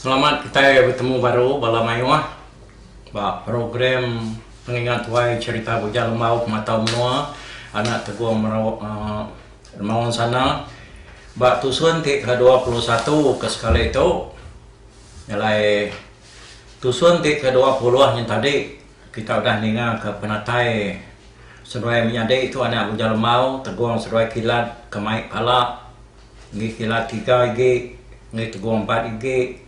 Selamat kitai betemu baru bala mayuh ba program pengingat tuai cherita Bujang Lembau Pematau Menua anak Tegong Merawa Remaon Sana ba tusun ti ke dua puluh satu ke sekali tu nya alai tusun ti ke dua puluh nya tadi kita udah ninga ke penatai seduai menyadi tu anak Bujang Lembau Tegong seduai kilat ke mai pala. Ngi kila tiga igi, ngi tegong empat igi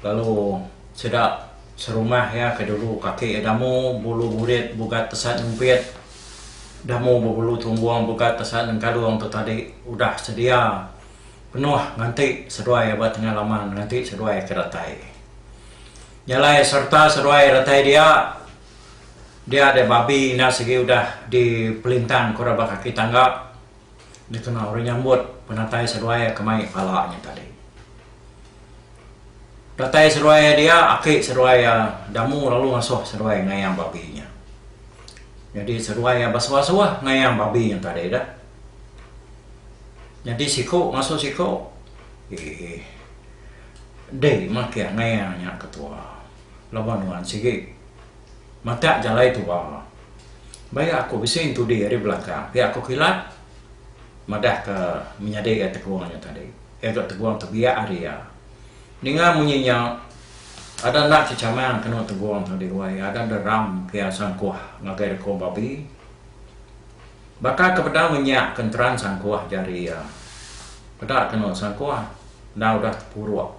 lalu sida serumah iya ke dulu kaki iya damu bulu burit bugat tesat nyumpit damu bebulu tumbong bugat tesat nengkalung tu tadi udah sedia penuh nganti seduai ba tengah laman nganti seduai ke datai. Nya alai sereta seduai datai dia dia deh babi enda sigi udah dipelintang ke orang ba kaki tangga. Nya kena orang nyambut penatai seruai ke mai pala nya tadi. Datai seruai dia, aki seruai iya Damu lalu ngasuh seruai ngayang babi nya. Nyadi seruai iya besuah-suah ngayang babi nya tadi dah. Nyadi siku ngasuh siku, eeh dei makih ngayang nya ketua laban nuan sigi. matak jalai tua. Baik aku bisi entudi ari belakang pia aku kilat madah ke menyadi ga tegung nya tadi. Iya ga tegung tebiak ari iya. Ninga munyi nya ada enda chechamang kenu tegung tadi wai ada deram ke iya sangkuh ngagai deko babi. Baka ke bedau ngenyak ke enteran sangkuh jari iya. Peda kenu sangkuh enda udah tepuruk.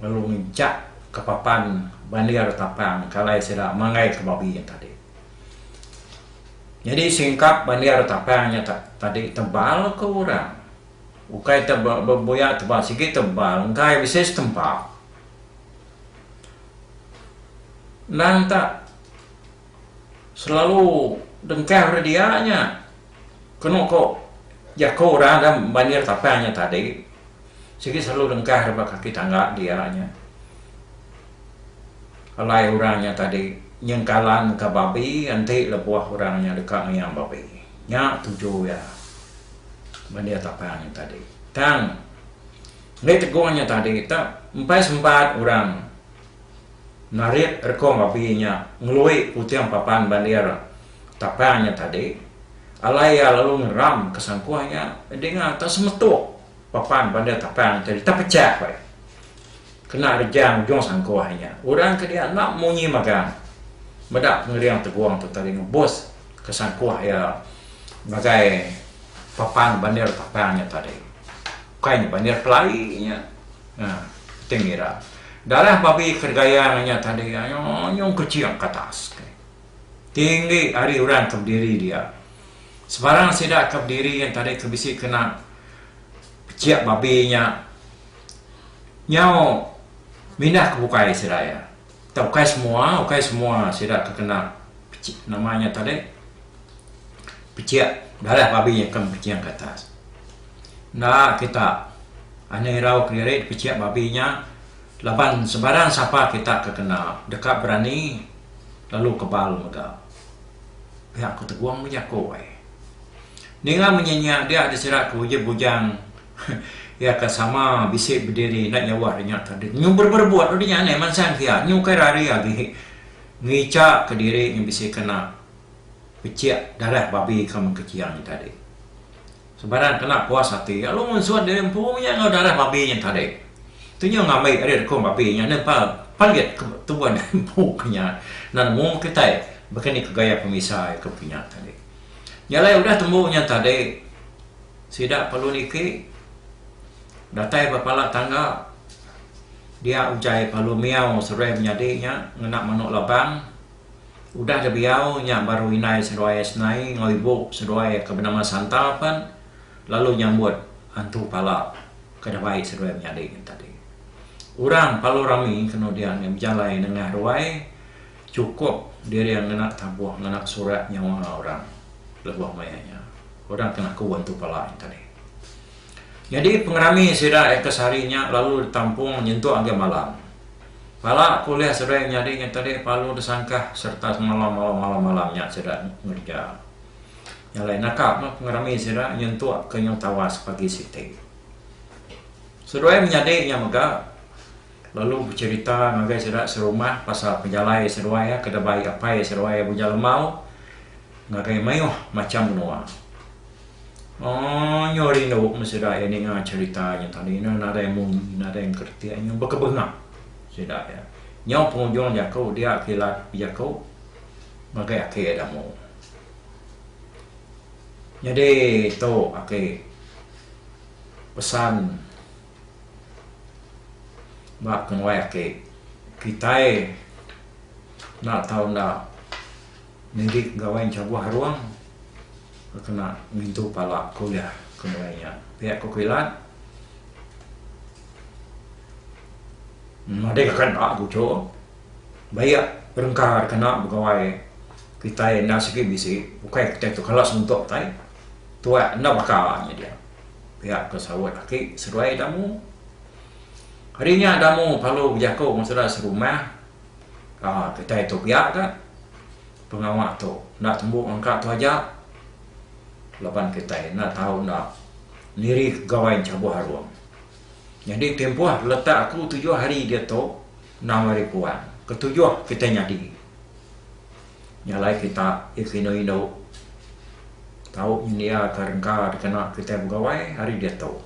lalu ngejak ke papan bandir tapang kalai sida manggai ke babi nya tadi. Nyadi singkap bandir tapang nya tadi tebal ke orang. Ukai tebal bebuyak tebal sigi tebal enggai bisi setempa. Endang tak. Selalu dengkang rak dia nya. Kenu ko jako orang da banjir tapang nya tadi. Sigi selalu dengkang rak ba kaki tangga dia nya. Alai orang nya tadi nyengkalan ka babi enti lebuh orang nya deka ngiang babi. Nya tuju iya banjir tapang nya tadi. Tang, enda tegung nya tadi tak empai sempat orang. Narit reko babi nya ngelui puting papan bandir tapang nya tadi, alai iya lalu ngeram ke sangkuh nya dinga tak semetuk papan bandir tapang nya tadi tepecah ko iya. Kena rejang ujung sangkuh nya, orang ke dia enda munyi magang meda pengering tegong tu tadi ngebus ke sangkuh iya ngagai papan bandir tapang nya tadi. Bukai nya bandir pelai nya. Ti ngira. Dalah babi ke gaya enggau nya tadi anyong-anyong kecing ke atas. Ti enggi ari orang ke bediri dia. Sebarang sida ke bediri yen tadi ke bisi kena pechik babi nya nyau mindah ke bukai sida iya. Tang ukai semua, ukai semua sida ke kena pechik nama nya tadi pechik darah babi akan bepeching ke atas. Enda kita anih irau kediri dipechik babi nya laban sebarang sapa kita ke kena deka berani lalu kebal mega pia ku Tegong bejaku ai. Ninga menyinyia dia disera ke uji bujang. Iya ka sama bisi bediri enda jauh ari nya tadi. Nyu berebut-rebut dudi nya alai mansang kia. Nyu ukai rari agi. Ngica ka diri nyu bisi kena pecik darah babi ka mengkeciang nya tadi. Sebarang kena puas ati lalu ngunsut diri empu nya enggau darah babi nya tadi. Tu nyu ngambi ari rekung babi nya nempa palit ke tubuh diri empu ke nya. Enda nemu meh kitai baka ni ke gaya pemisa iya ke kinya tadi. Nya alai udah tembu nya tadi. Sida perlu niki datai ba pala tangga dia utai palu miau seruai menyadi nya ngena manu labang udah dibiau nya baru indai seduai senai enggau ibu seduai ke benama Santa pen lalu nyambut antu pala ke dabai seduai menyadi nya tadi. Orang palu rami kenu dia ngejalai nengah ruai. Chukup diri ngena tabuh ngena surat nyawa orang lebuh maya nya orang kena ku Bantu Palai tadi. Nyadi pengerami sida eka sehari nya lalu ditampung nyentuk agi malam. Pala ku ulih seduai nyadi nya tadi palu disangkah sereta semalam malam-malam nya sida ngereja. Nya alai naka meh pengerami sida nyentuk ke nyau tawas pagi siti. Seduai menyadi nya mega. lalu becerita ngagai sida serumah pasal penjalai seduai iya ke debai apai seduai iya Bujang Lemau ngagai mayuh macham menua. Aaa nyau rindu meh sida iya ninga cerita nya tau ina nadai munyi nadai enkeretik nyau bekebengah sida iya. Nyau pengujung jaku dia kilat bejaku ngagai aki iya da mu. Nyadi tu aki pesan. Ba penguai aki, kitai enda tau enda nili gawai enchabuh arung ke kena ngintu pala ke ulih ke mulai nya. Pia ku kilat madai ka enda ku uchu ba iya perengka kena begawai kitai enda sigi bisi ukai kitai tu kala sentok kitai tuai enda baka nya dia. pia ke saut aki seduai Damu. Hari nya Damu perlu bejaku enggau saudara serumah aaa kitai tu pia ka pengawa tu enda tembu ngangka tu aja laban kitai enda tau enda nirih gawai enchabuh arung. Nyadi timpuh letak aku tujuh hari diatu enam hari puan ketujuh kitai nyadi. Nya alai kita iko inu inu tau nyendia ka rengka dikena kitai begawai ari diatu.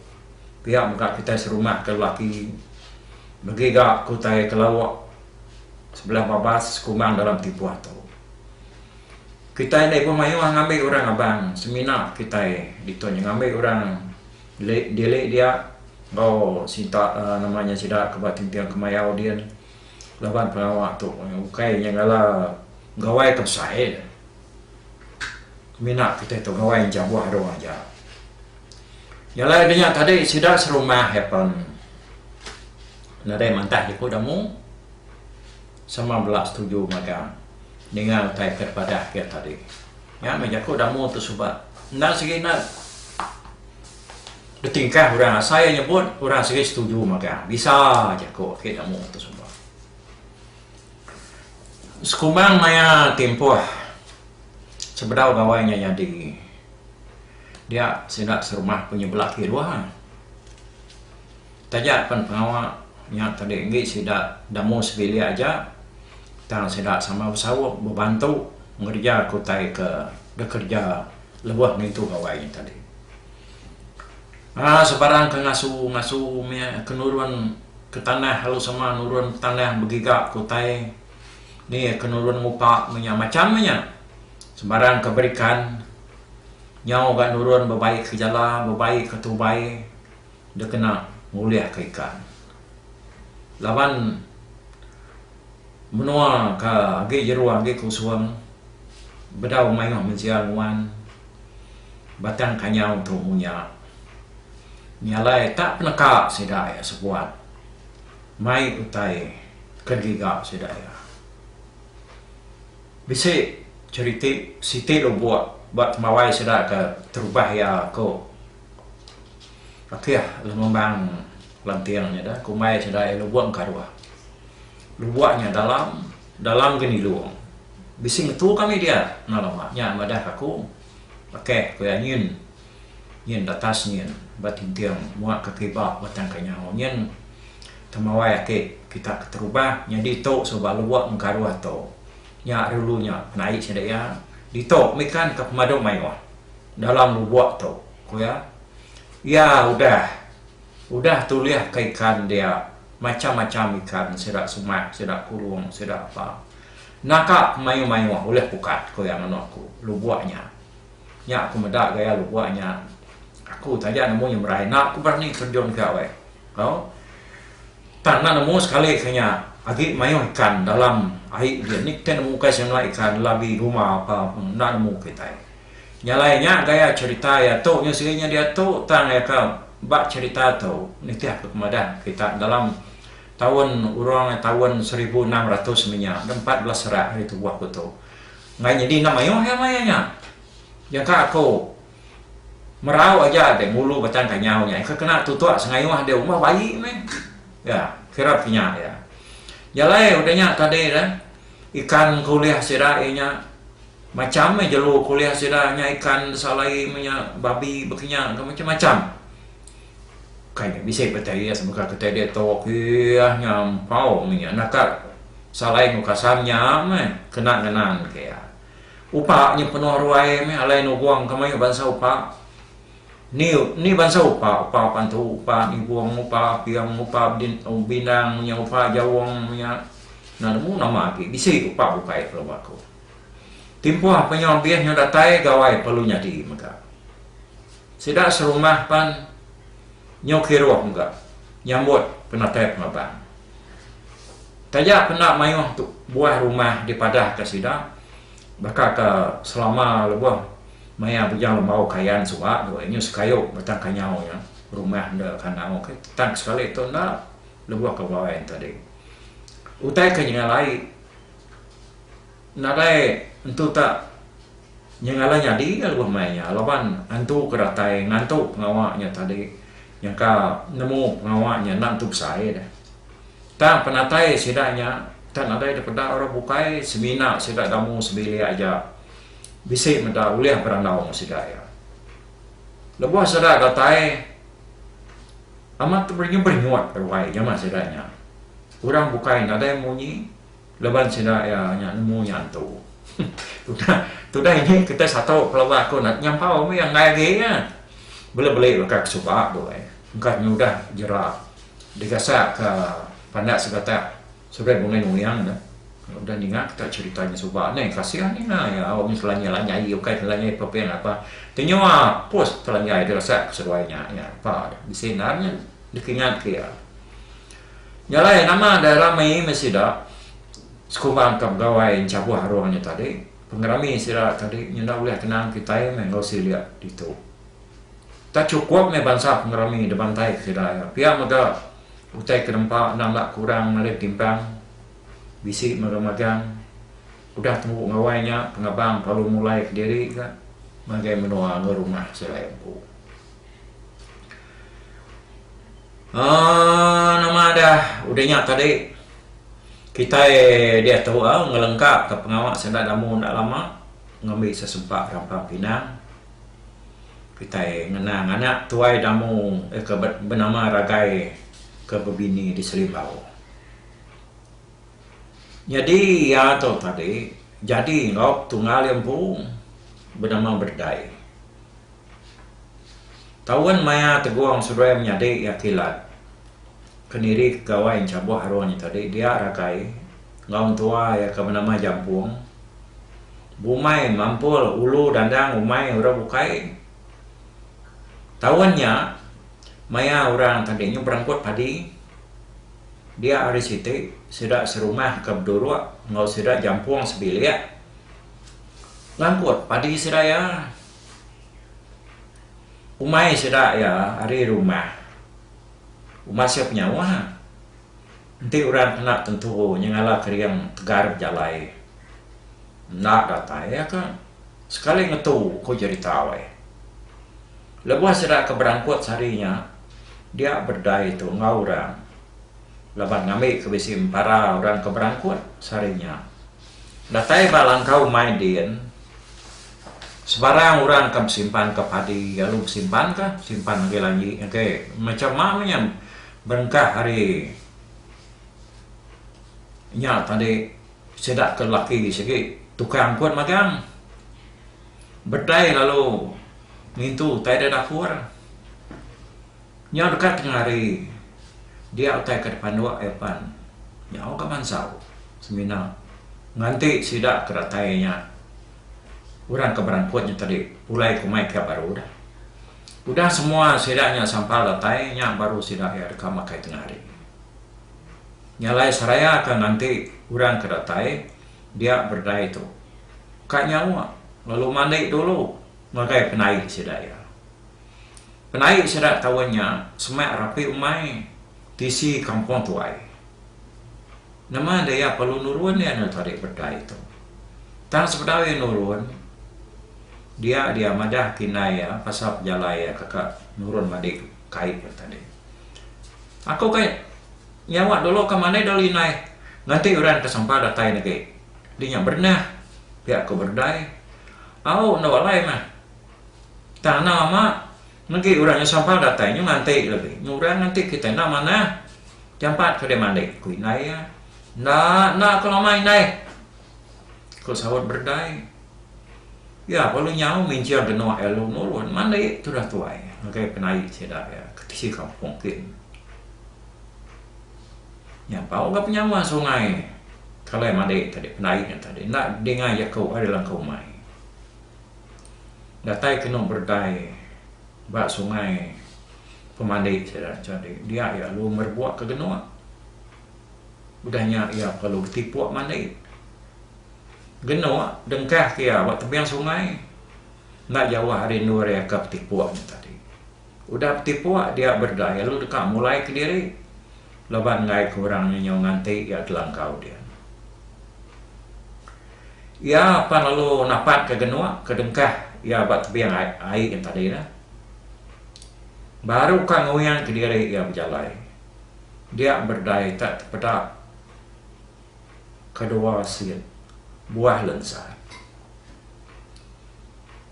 Pia mega kitai serumah ka lelaki megi ga ke utai ke lauk sebelah babas sekumbang dalam timpuh tu. Kitai enda ibuh mayuh ngambi orang abang semina kitai ditu nya ngambi orang dili dia enggau sita uhh nama nya sida ke ba Tinting Kemayau din. laban pengawa tu ukai nyengala gawai ke besai mina kitai tu gawai enchabuh dong aja jalai denya tadi sida serumah happen nadai mantah iku damu sama bela setuju mega ninga utai ke dipadah ke tadi nya meh jaku damu tu suba enda segi enda. Betingkah orang asai iya nyebut, orang sigi setuju magang. Bisa jaku agi da mung tu semua. Sekumbang maya timpuh sebedau gawai nya nyadi, dia sida serumah penyebelah kiruh. Taja pen pengawa nya tadi enggi sida da mung sebilik aja tang sida sama besaup bebantu ngereja ke utai ke dikereja. Lebuh ngintu gawai tadi. Aa sebarang ke ngasu ngasu meh ke nurun ke tanah lalu sama nurun tanah begiga ke utai ni ke nurun ngupa meh nya macam meh nya sebarang ke berikan nyau ga nurun bebai ke jala bebai ke tubai dek kena ngulih ke ikan laban Menua ke agi jeru agi ke usung bedau mayuh mensia nguan batang kanyau tu mung nya. Nya alai tak peneka sida iya sebuat mai utai ke digiga sida iya. Bisi cheriti siti lubuk ba temawai sida ke terubah iya ku Akih Lengembang. Lanting nya da kumbai sida iya lubong ka ruah. Lubong nya dalam, dalam ke nilung. Bisi ngetu kami dia enggau lama nya madah ka aku. Bakeh, ku iya nyin. Nyin datas nyin ba tinting muak ka kiba batang ka nyau nyin. Temawai ati kita keterubah nyadi tu suba lubong ka ruah tu. Nya ari ulu nya penai sida iya. Ditu mikan ka pemadu mayuh dalam lubong tu, ku iya. Iya udah. Udah tulih ka ikan dia, macham-macham ikan sida sumat, sida kurung, sida apa. Naka ke mayuh-mayuh ulih pukat, ku iya nganu aku. Lubuk nya. Nya aku meda gaya lubuk nya. Aku taja nemu nyemrai. Enda ku berani terjun ka weh. Au. Tang enda nemu sekali ke nya. Agi mayuh ikan dalam ai dia. Nik te nemu ukai semina ikan labi rumah apa pun. Enda nemu kitai. Nya alai nya gaya cherita iya tu nya sigi nya diatu tang iya ka ba cherita tu nitih ka pemadah kita dalam taun urang taun seribu enam ratus meh nya da empat belas serak hari tubuh ku tu enggai nyadi enda mayuh iya maya nya nyengka aku merau aja deh ngulu batang kanyau nya ika kena tutok sengayuh deh umbah bayi meh ya kira pa nya iya. Nya alai udah nya tadi re. Ikan ke ulih sida iya nya macam meh jelu ke ulih sida nya ikan salai meh nya babi bekinya ke macam-macam. Kai nya bisi pah tai iya sebengkah ke tai diatu kieh nya empau meh nya naka salai enggau kasam nya meh kena ngenang ke iya. Upa nya penuh ruai meh alai nubung ke mayuh bansa upa. Ni ni bansa upa, upa pantu, upa nibung, upa aping, upa bindang nya upa jaung nya enda nemu nama agi bisi upa bukai kelo baku. Timpuh penyu ambih nya datai gawai perlu nyadi mega. Sida serumah pan nyu kiruh mega nyambut penatai pengelabang. Taja kena mayuh buah rumah dipadahka sida Baka ke selama lebuh maya Bujang Lembau Kayan suba tu, inyu sekayu batang kanyau nya rumah enda kandau okey. Tang sekali tu enda lebuh ke bawai enti tadi. Utai ke nyengalai nadai entu tak nyengalai nyadi ka lebuh mai nya laban antu ke datai ngantu pengawa nya tadi nyangka nemu pengawa nya enda entu besai deh. Tang penatai sida nya tak nadai dipeda orang bukai semina sida gamu sebilik aja bisi meda ulih berandau enggau sida iya. Lebuh sida datai amat teberenyut-berenyut ruai jama sida nya. Orang bukai nadai munyi laban sida iya nya nemu nya entu. Tudah tudah ini kitai satu pelaba aku nyampau mih iya enggai agi iya. Bela beli baka ke suba tu ai engka nyudah jera. Digasakka pandak segatak seberai bungai nuing ne udah ninga kita cherita nya suba neh kasih ninga iya au mih selanjai lanjai ukai selanjai peping apa kenyua pus selanjai deh gasak ke seduai nya iya pa bisi endar nya dikingat ke iya. Nya alai nama da rami meh sida sekumbang ka begawai enchabuh arung nya tadi pengerami sida tadi ngena ulih kenang kitai meh enggau silik ditu. Tak chukup meh bansa pengerami dibantaika sida iya. Pia mega, utai ke nempa endang enda kurang ngalih betimpang bisi mega magang udah tembu gawai nya pengabang perlu mulaika diri ga ngagai menua enggau rumah sida iya empu. Aaa nama dah udah nya tadi kitai deh tuo ngelengkaka pengawa sida damu enda lama ngambi sesempak rampang pinang. Kitai ngena nganak tuai Damu ke benama Ragai ke bebini di Selimbau. Nyadi iya tu tadi jadi enggau tunggal iya empu benama Berdai. Taun maya Tegong Seduai menyadi iya kilat ke niri ke Gawai Enchaboh aruh nya tadi dia Ragai. Enggau mentua iya ke benama Jampung, Bumai, Mampul, Ulu, Dandang, Umai, orang bukai. Taun nya, maya orang tadi nya berengkut padi, dia hari siti sida serumah ke beduruk enggau sida Jampung sebilik ngangkut padi sida iya. Umai sida iya ari rumah Umasuk Nyawa. Enti orang kena tentu nyengala kering tegal bejalai enda datai iya ke sekali ngetu ku jerita wai. Lebuh sida ke berangkut sehari nya dia bededai tu enggau orang laban ngambi ke bisi empara orang ke berangkut sehari nya. Datai ba langkau mai din sebarang orang akan besimpanka padi lalu besimpanka besimpan agi lanji age. Macham ma menyan. Berengkah ari nya tadi sida ke lelaki sigi tukang pun magang bedai lalu ngintu utai da dapur. Nya deka tengah hari dia utai ke dipanduk iya pan nyau ga mansau semina nganti sida ke datai nya orang ke berangkut nya tadi pulai kumai kiap baru dah. Udah semua sida nya sampal datai, nya baru sida iya deka makai tengah hari. Nya alai seraya ka nganti orang ke datai dia berdai tu ka nyawa lalu mandi dulu ngagai penai sida iya. Penai sida taun nya semak rapi umai tisi kampung tuai. Nama enda iya perlu nurun iya enda tarik bedai tu. Tang sebedau iya nurun, dia dia madah kinyai iya pasal pejalai iya ke ka nurun madi kait iya tadi. Aku ka nyawa dulu ka manai dulu inai nganti orang ke sampah datai negi dinya bernah pia ku bedai. Au enda alai meh. Tang anang lama Negi orang nya sampal datai nyu nganti legi. Nyu orang nganti kitai enda manah. Jampat ke deh mandi, ku indai iya. Enda, enda aku lama indai, ku saut Berdai. Iya lalu nyau minjil genuk iya lalu nurun mandi tudah tuai ngagai penai sida iya ke tisi kampung kin. Nyampau ga penyawa sungai kalai mandi tadi penai nya tadi enda dinga jaku ari langkau mai. Datai kenu berdai ba sungai pemandi sida jadi dia iya lalu merebok ke genuk udah nya iya perlu betipuk mandi. Genuk dengkah ke iya ba tebing sungai enda jauh ari endur iya ka betipuk nya tadi. Udah betipuk dia berdedai lalu deka mulai kediri laban enggai ke orang nya nyau nganti iya telangkau dia. Iya pan lalu napatka genuk ke dengkah iya ba tebing ai nya tadi dah. Baru ka nguing kediri iya bejalai. Dia berdedai tak tepeda. kedua sien buah lensa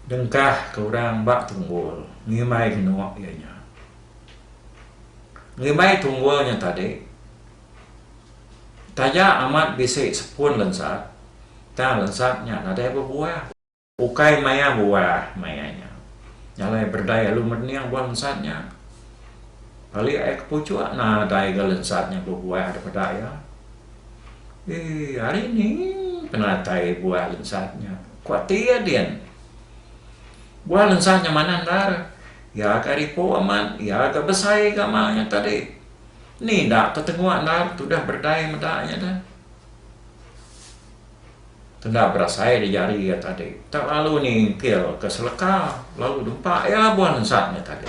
dengkah ke orang ba tunggul ngimbai genuk iya nya. Ngimbai tunggul nya tadi taja amat bisi sepun lensa tang lensa nya nadai bebuah. Ukai maya buah maya nya. Jalai berdai alu mening buah lensat nya. Palik ai ke puchuk nadai ga lensat nya bebuah daripada iya. Eii ari ni penatai buah lensat nya? ku ati iya din. Buah lensat nya manah endar. Iya ga ari epuk amat, iya ga besai ga ma nya tadi. Ni enda tetenguk endar tudah berdai meda nya dah. Kenda berasai di jari iya tadi. Tak lalu nyingkil ke seleka lalu dempa iya buan ensat nya tadi.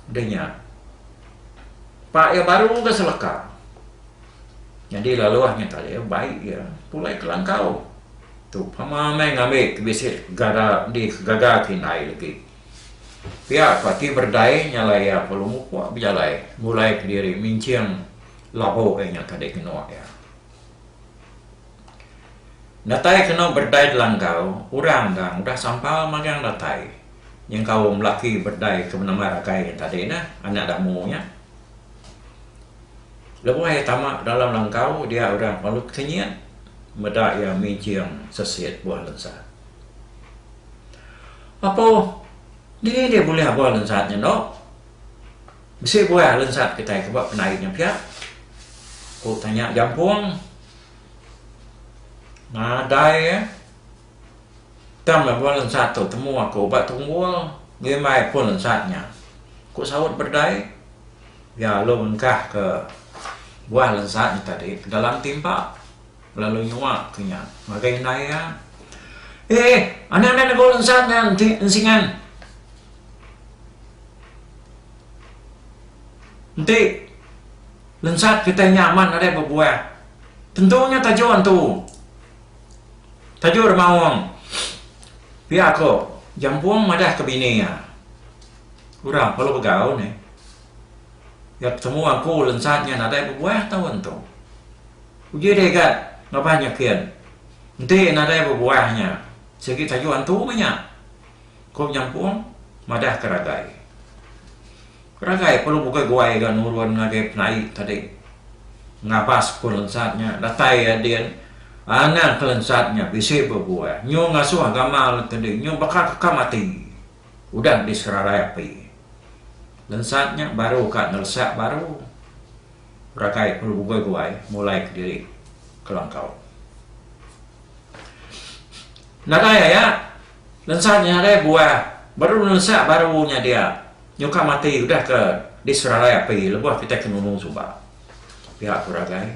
Di nya, pak iya baru ke seleka. Nyadi laluh nya tadi bai iya pulai ke langkau. Tu pama meh ngambi ke bisi gaga di gaga ke indai legi. Pia ko ati berdai nyalai iya lalu mupuk bejalai ngulai kediri minching labu iya nya tadi ke nua iya. Datai kenu bedai Delanggau, orang gang udah sampal magang datai nyengkaum laki bedai ke menemar agai nya tadi neh, anak Damu nya. Lebuh iya tama ba dalam Langgau, dia orang Palut Kenyit meda iya mijing sesit buah lensat. Apoh, dini deh bulih buah lensat nya endo? Bisi buai alun sat kitai ke ba penai nya pia, ku tanya Jampung nadai iya. Tang lebuh alun sat tu temu aku ba Tunggul ngimbai pun alun sat nya, ku saut Berdai. Iya lalu ngengkahka buah alun sat nya tadi ke dalam timpa. Lalu nyua tu nya ngagai indai iya, Eh, anak enda negau lensan nya enti ensingan. Enti lensat kitai nya amat nadai bebuah. Tentu nya tajuk antu. Tajuk remaung. Pia ko Jampung madah ke bini iya, Orang perlu begau neh. Iya betemu aku lensat nya nadai bebuah tau antu. Uji deh ga ngabah nya kin. Enti nadai bebuah nya, sigi tajuk antu meh nya, ku Penyampung madahka Ragai. Ragai perlu bukai guai ga nurun ngagai penai tadi ngabas Kelensat nya datai iya din anang Kelensat nya bisi bebuah nyu ngasuh gamal ke di nyu baka kekam ati udah diserarai api. Lensat nya baru ka ngeresak baru. ragai perlu bubai-buai mulai kediri kelangkau. Nadai aya lensa nya ngagai buah baru nelensa baru nya dia nyukang mati udah ke disererai api lebuh kitai ke nunu suba. Pia ku ragai.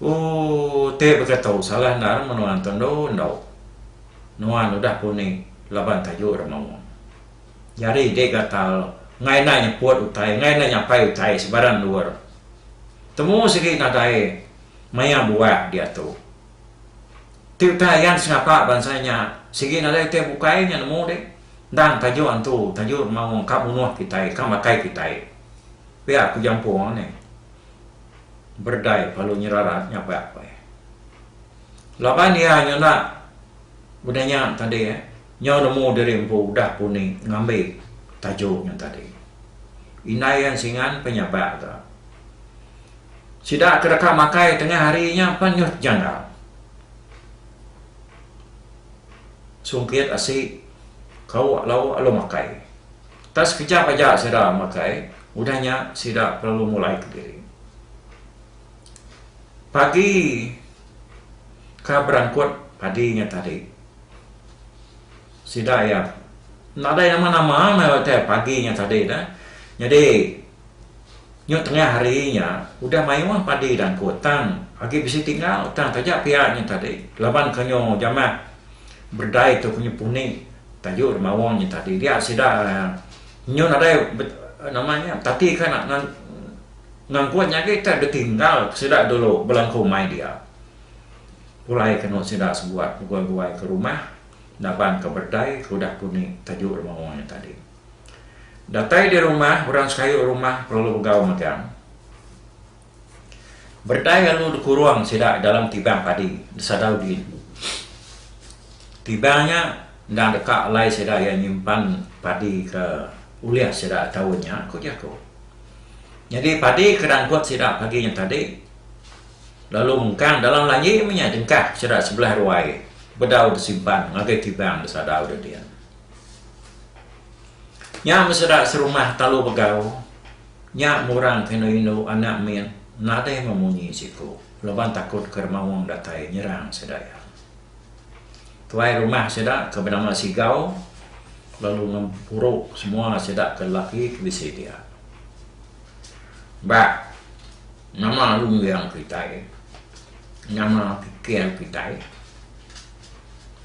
Ooh ti baka tu salah enda re menua entu endu endu. Nuan udah pun ni laban tayu re maung. Jari dek gatal ngaina nyeput utai ngaina nyapai utai sebarang endur. Temu sigi ngagai maya buah diatu. Ti utai ayan sengapa bansa nya sigi ngagai utai bukai nya nemu dek endang tajuk antu tajuk maong ka munuh kitai ka makai kitai. Pia ku jampung nih berdai palu nyerarat nya ba laban iya nyuna benda nya tadi. Nyau nemu diri empu udah pun ni ngambi tajuk nya tadi. Indai iya singan penyabak ga. Sida ke deka makai tengah hari nya pan nyut janggal. Sungkit asi kauk lauk alu makai. Tak sekejap aja sida makai, udah nya sida lalu mulai ke diri. Pagi ka berangkut padi nya tadi. Sida iya nadai nama-nama meh utai pagi nya tadi dah. Nyadi nyu tengah hari nya udah mayuh padi da engku tang agi bisi tinggal tang taja pia nya tadi laban ko nyu jamah berdai tu ko nyu puni tayu da mawang nya tadi dia sida nyu nadai nama nya betati ka ngangkun nya agi tah ditinggal sida dulu bala engku mai dia. Pulai kenu sida sebuat beguai-guai ke rumah naban ke bedai ke udah puni tajuk dema wong nya tadi. Datai di rumah, orang sekayu rumah perelu begau megang bedai lalu dikurung sida dalam tibang padi disadau din. Tibang nya endang deka alai sida iya nyimpan padi ke ulih sida taun nya, ku jaku. Nyadi padi ke dangkut sida pagi nya tadi. Lalu mengkang dalam laie menya dengkah sida sebelah ruai bedau besimpan ngagai kibang besadau deding. Nya meh sida serumah talu begau. Nya meh orang ke indu-indu anak mit nadai meh munyi siku laban takut ke remaung datai nyerang sida iya. Tuai rumah sida ke benama Sigau lalu ngempuru semua sida ke lelaki ke bisi dia. ba nama runggang kitai, nama pikir kitai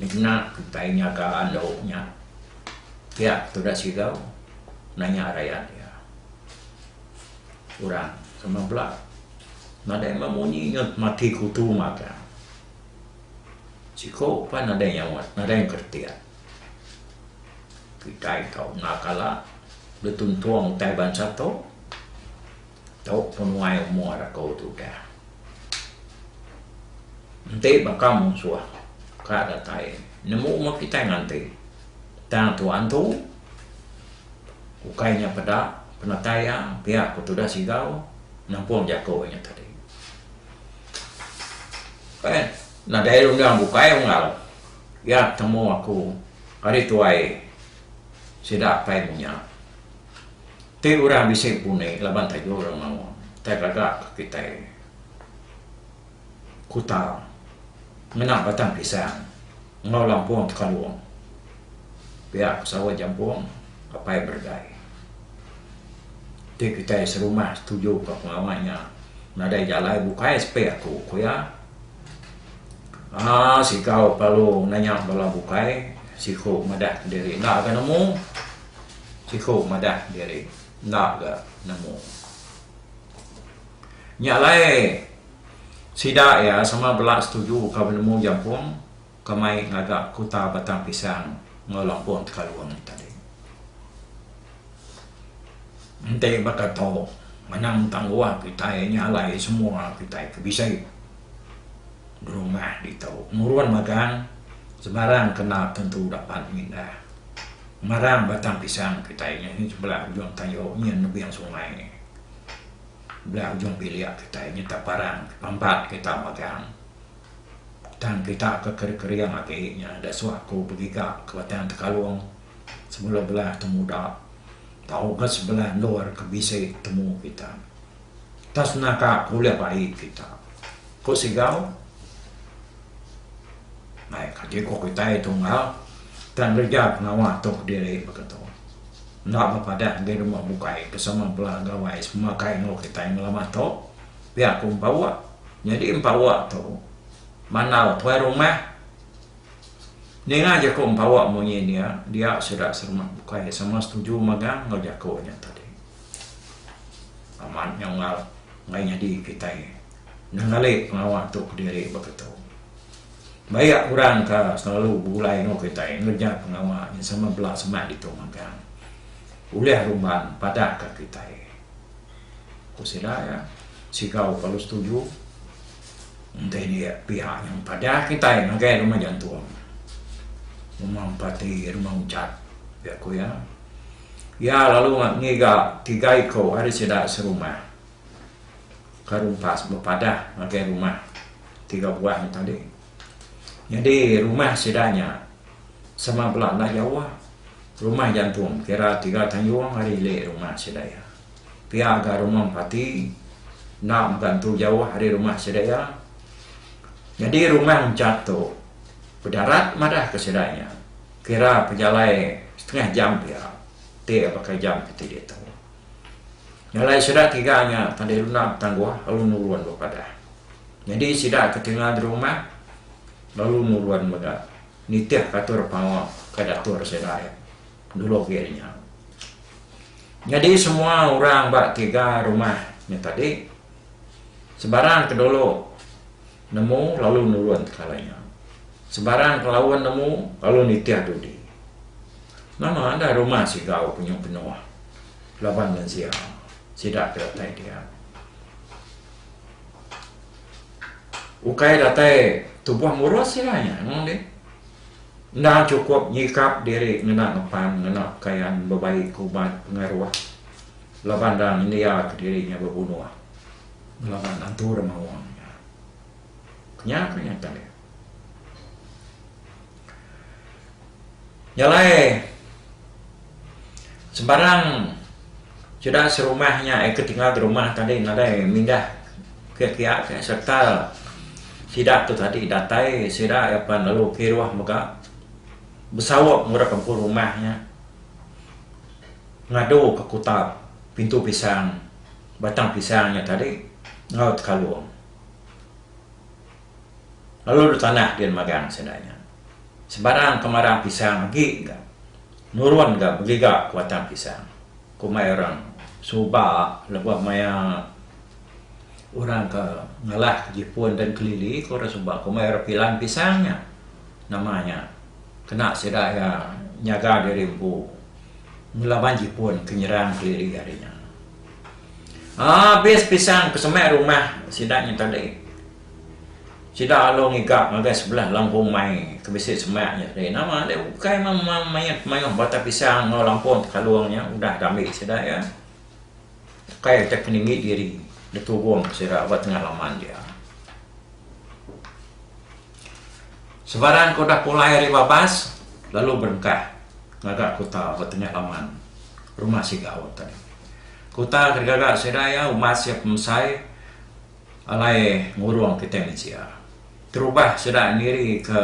dikena kitai nyaga andu nya pia tuda sigau nanya rayat iya. Orang sama bala nadai meh munyi mati kutu mata. Siko pan nadai nyaut, nadai ngeretik. Kitai tau enda kala betuntung utai bansa tu. Tu penuai umur aku tu udah. Enti baka munsuh ka datai nemu umur kitai nganti tang tuan tu ukai nya peda penatai iya pia aku tudah sigau nampung jaku nya tadi. Nadai rundang bukai unggal. Iya temu aku ari tuai sida apai munya ti udah bisi puni laban taja orang maun tai gaga ke kitai kuta ngena batang pisang enggau lampung tekalung pia ke sawa jampung apai beregai ti kitai serumah setuju ka pengawa nya nadai jalai bukai sepi aku ku iya. Haa sikau kelalu nanya bala bukai siku madah kediri enda ga nemu siku madah kediri enda ga nemu nya alai sida iya sama bela setuju ka penemu jampung ke mai ngaga kuta Batang Pisang enggau Lampung Tekalung nya tadi. Enti baka tu, manang tang luah kitai nya alai semua kitai ke bisi berumah ditu nurun magang sebarang kena tentu dapat mindah marang Batang Pisang kitai nya ngin sebelah ujung tayo nya nebing sungai belah ujung bilik kitai nya taparang pampat kita magang. Tang kita ke kering-kering agi nya da suah aku begiga ke Batang Tekalong sebedau bela temuda tau ga sebela endur ke bisi temu kita tau senaka ke ulih bai kita ku Sigau mai kadi ku kitai tunggal tang ngereja pengawa tu kediri baka tu enda bepadah enggi rumah bukai ke sama bela gawai semakai enggau kitai ngelama tu. pia aku empower nyadi empower tu manau tuai rumah ninga jaku empower munyi nya dia sida sama bukai sama setuju mega enggau jaku nya tadi amat nyau ngal meh nyadi kitai nengeli pengawa tu kediri baka tu baik ka orang ka selalu begulai enggau kitai ngereja pengawa nya sama bela semak ditu mega ulih rumban padah ka kitai. Ku sida iya, Sigau kalu setuju enti ni pihak nya mpadah kitai ngagai rumah jantung, rumah empati, rumah unchat, pia ku iya. Iya lalu ngiga tiga iku ari sida serumah ke rumpas bepadah ngagai rumah tiga buah nya tadi. Nyadi rumah sida nya sama bela enda jauh. Rumah jantung kira tiga tayung ari ili rumah sida iya. Pia ga rumah empati enda mega nentu jauh ari rumah sida iya. Nyadi rumah enchant tu bedarat madah ke sida nya kira pejalai setengah jam pia ti baka jam keti ditu. Jalai sida tiga nya tadi enda betangguh lalu nurun ba padah. Nyadi sida ke tinggal di rumah lalu nurun mega nitih ke atur pengawa ke diatur sida iya. Dulu agi ari nya. Nyadi semua orang ba tiga rumah nya tadi sebarang ke dulu nemu lalu nurun tekalai nya. Sebarang ke laun nemu lalu nitih dudi. Nama enda rumah Sigau penuh-penuh laban mensia sida ke datai dia. Ukai datai tubuh murus sida nya, nemu dih. Enda chukup nyikap diri ngena ngepan ngena pekayan bebai ke ubat pengaruh laban enda nyendiaka diri nya bebunuh laban atur maung nya. Ku nya ke nyata dia. Nya alai. Sembarang sida serumah nya ke tinggal di rumah tadi nadai mindah ke kiya ke sereta sida tu tadi datai sida iya pan lalu kiruh mega besawa murip empu rumah nya ngadu ke kuta Pintu Pisang, Batang Pisang nya tadi enggau Tekalong. lalu ditanah din magang sida nya. Sebarang kemarang pisang agi ga nurun ga begiga ke batang pisang, kumbai orang suba lebuh maya orang ke ngalah ke jipun dan kelili ke orang suba kumbai orang pilan pisang nya nama nya kena sida iya nyaga diri empu ngelaban jipun ke nyerang kelili ari nya. Abis pisang ke semak rumah sida nya tadi, sida lalu ngiga ngagai sebelah langkung mai ke bisi semak nya tadi. Nama deh ukai mayuh mayuh batang pisang enggau lampun tekalung nya udah deh ambi sida iya. Ukai deh ke ninggi diri deh turun sida ba tengah laman dia. Sebarang ke udah pulai ari babas lalu berengkah ngaga kuta ba tengah laman rumah Sigau ati ne. Kuta ke digaga sida iya umas iya pemesai alai ngurung kitai mensia. Terubah sida niri ke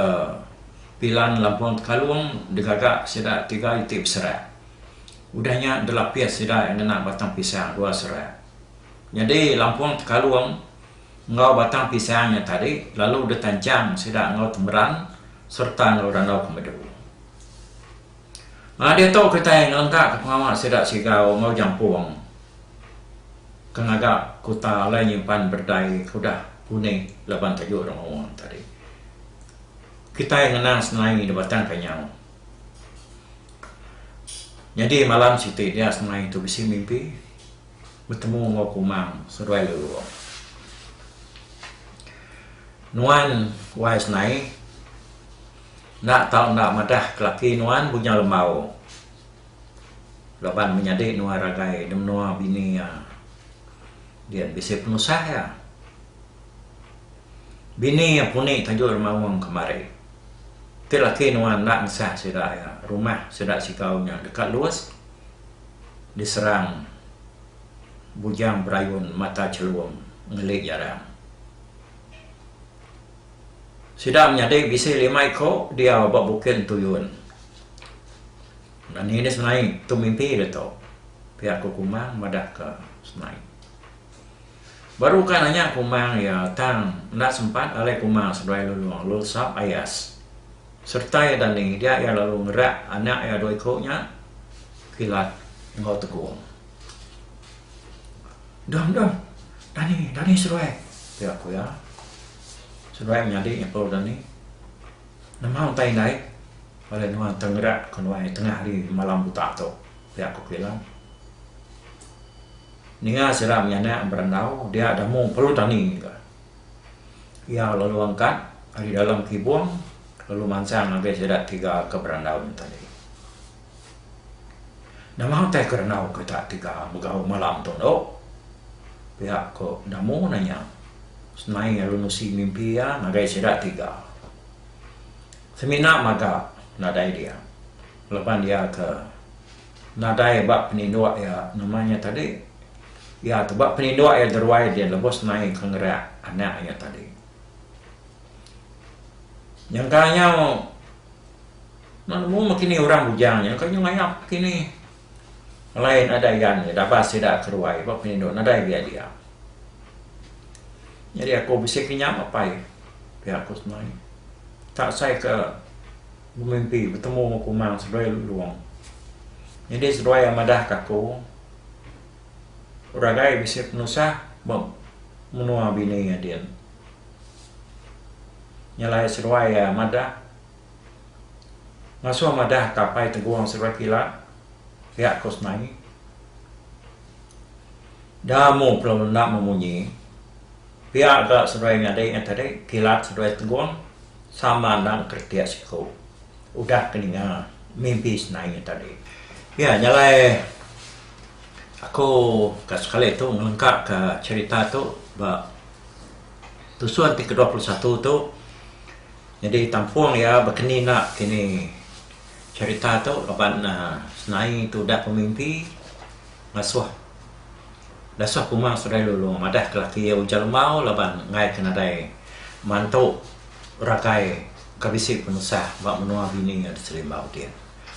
Pilan Lampung Tekalung digaga sida tiga iti beserak. Udah nya delapis sida iya ngena batang pisang dua serak. Nyadi Lampung Tekalung. enggau batang pisang nya tadi lalu ditanchang sida enggau temeran sereta enggau randau ke medu. Aa diatu kitai ngelengkaka pengawa sida Sigau enggau Jampung ke ngaga kuta alai nyimpan berdai ke udah unik laban tajuk Rengau nya tadi. Kitai ngenang semai di Batang Kanyau. Nyadi malam siti dia semai tu bisi mimpi. betemu enggau Kumang seduai Lelurong. Nuan wai senai enda tau enda madah ke laki nuan Bujang Lembau laban menyadi nuan ragai di menua bini iya dia bisi penusah iya. Bini iya puni tajuk Remaung kemari. Ti laki nuan enda ngesah sida iya, rumah sida sikau nya deka luas. diserang Bujang Berayun Mata Chelum ngeli jarang. Sida menyadi bisi lima iko diau ba Bukit Entuyun. Nani ni Senai tu mimpi ditu, pia ku Kumang madahka Senai. Baru ka nanya kumang iya tang enda sempat alai kumang seberai lulong lalu sap ayas. Sereta iya dani dia iya lalu ngerak anak iya dua iku nya Kilat enggau Tegong. Dong dong dani dani seduai pia ku iya. Seduai menyadi nyekel dani nemau entai indai alai nuan tengerak ke nuai tengah hari malam buta tu pia ku Kilat. Ninga sira menyanak berandau dia ada mung perlu tani ga. Iya lalu angkat ari dalam kibung lalu mansang ngagai sida tiga ke berandau nya tadi. Nama utai ke randau kita tiga begau malam tu endo? Pia ko Damu nanya. Senai lalu nusi mimpi iya ngagai sida tiga. Semina maga nadai dia laban iya ke. Nadai ba peninduk iya, nama iya tadi? Iya tu ba peninduk iya deruai dia lebuh senai ke ngereak anak iya tadi. Nyangka nyau Meh nemu meh kinih orang bujang nya ka nyau ngayap kinih. Alai nadai agan iya dabas sida ke ruai ba peninduk nadai biak dia. Nyadi aku bisi kinyap apai piak aku senai. Tak sai ke. Bemimpi betemu enggau Kumang seduai Lulong. Nyadi seduai iya madah ka aku, Ragai bisi penusah ba menua bini iya din. Nya alai seduai iya madah ngasuh madah ka Apai Tegong seduai Kila pia ko semai. Damu pelalu enda memunyi. Pia ga seduai nyadi nya tadi kilat seduai tegung sama enda engkeretik siku udah ke ninga mimpi senai nya tadi. Pia nya alai aku ka sekali tu ngelengka ka cherita tu ba tusun ti kedua puluh satu tu nyadi tampung iya bekeni enda kini cherita tu laban senai tu udah pemimpi ngasuh Dasah kuma Sodai Lulong madah ke laki iya ujar lembau laban ngaika nadai mantu ragai ke bisi penusah ba menua bini iya di Serimbau ti.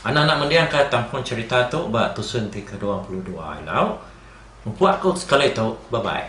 Anak-anak mending ka tampung cherita tu ba tusun ti ke dua puluh dua ilau. Empu aku sekali tu bye bye.